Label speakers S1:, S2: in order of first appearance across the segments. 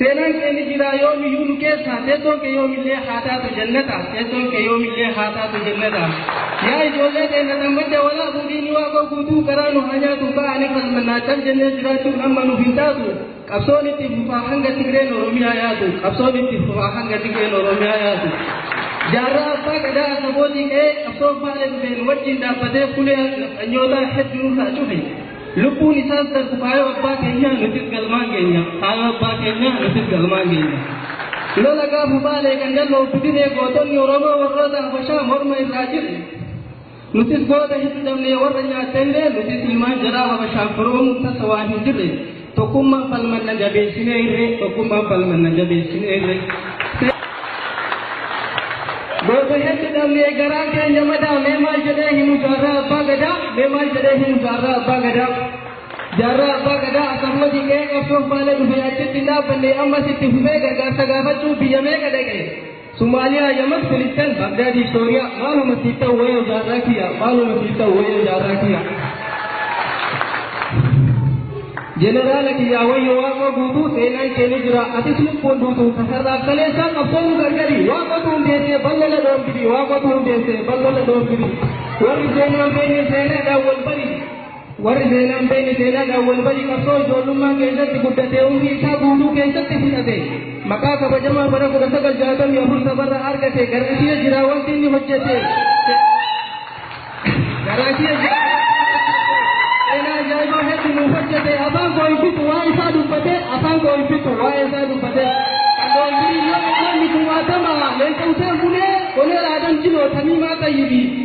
S1: Seenaan kee ni jiraa yoomiyyuu nu keessaa Teessoon kee yoomillee haa taatu jannata Teessoon kee yoomillee haa taatu jannata Yaa ijoollee teenna xammadda walaabuu diinni waaqoo guutuu garaa nu haa nyaatu ba'aa ni falmannaa cal jennee jiraachuun amma nuuf hin taatu Qabsoon itti fufaa hanga Tigreen Oromiyaa yaatu Qabsoon itti fufaa hanga Tigreen Oromiyaa yaatu Jaarraa abbaa gadaa asabootii ka'ee qabsoon faale dhufeen wajjin dhaabbatee fulee nafxanyootaa hedduu nurraa cufe. Lubbuun isaas darbu kaayoo abbaa keenyaa nutis galmaan geenya. Kaayoo abbaa keenyaa nutis galmaan geenya. Lola gaafa baalee kan dalloo fidinee gootonni Oromoo warroota Habashaa morma irraa jirre. Nutis goota hin dhabnee warra nyaatteellee nutis ilmaan jaraa Habashaan firoomuu tasa waan hin jirre. Tokkummaan falmanna jabeessinee irree Tokkummaan falmanna jabeessinee irree. Goota heddu dhabnee garaa keenya madaa mee maal jedhee himu jaarraa abbaa gadaa mee maal jedhee himu jaarraa abbaa gadaa. Jaarraa abbaa gadaa akkasumas qe'ee qabsoo faana dhufee achitti hin dhaabbanne ammas itti fufee gargaarsa gaafachuu biyya meeqa dhaqe. Somaaliyaa Yaman Filisxeen Bagdaadii Sooriyaa maaluma siif ta'u wayoo jaarraa kiyya maaluma siif ta'u wayoo jaarraa kiyya. Jeneraala kiyyaa wayyo waaqoo guutuu seenaan kee ni jira atis lubbuun duutu kasarraaf kaleessaa qabsoonu gargari waaqotu hundeessee ballola dhoorgiri waaqotu hundeessee ballola dhoorgiri warri seenaan beekne seenaadhaan wal bari Warri seenaa hin beekne seenaadhaan wal bari qabsoo ijoollummaa keessatti guddatee umrii isaa guutuu keessatti fudhate maqaa kabajamaa bara 1964 sabarraa argate garasiya jira wanti inni hojjete garasiya jira seenaa ajaa'ibaa hedduu nuuf hojjete afaan koo hin fixu waa isaa dubbate afaan koo hin fixu waa isaa dubbate kan doongirii yoo inni kumaatama leenca useen bulee onee raadam jiloo tamiimaa xayyibii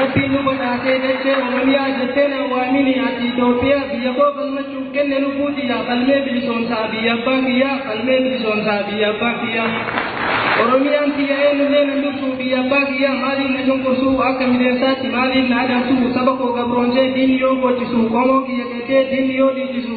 S1: Rabbiin nu badhaasee dachee Oromiyaa jettee naan waamini ati Itoophiyaa biyya koo falmachuuf kenne lubbuu tiyyaa falmee bilisoomsaa biyya abbaa kiyyaa falmee bilisoomsaa biyya abbaa kiyyaa Oromiyaan tiyya eenyullee nan dursuu biyya abbaa kiyyaa maaliin na cunqursuu akka mideensaatti maaliin na adamsuu saba koo gabroonsee diinni yoo boochisu qomoo kiyya qeeqee diinni yoo dhiichisu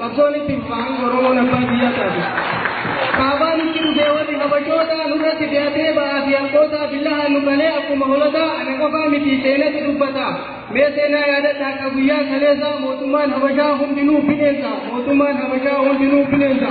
S1: Qabsoon itti fufa hanga Oromoon abbaa biyyaa taatu. Kaabaa nutti dhufee warri habashootaa nurratti fe'atee ba'aa fi harkootaa billahaa nu qalee akkuma holataa ana qofaa miti seenatu dubbata. Mee seenaa yaadadhaa akka guyyaa kaleessaa mootummaan habashaa hundinuu bineensa. Mootummaan habashaa hundinuu bineensa.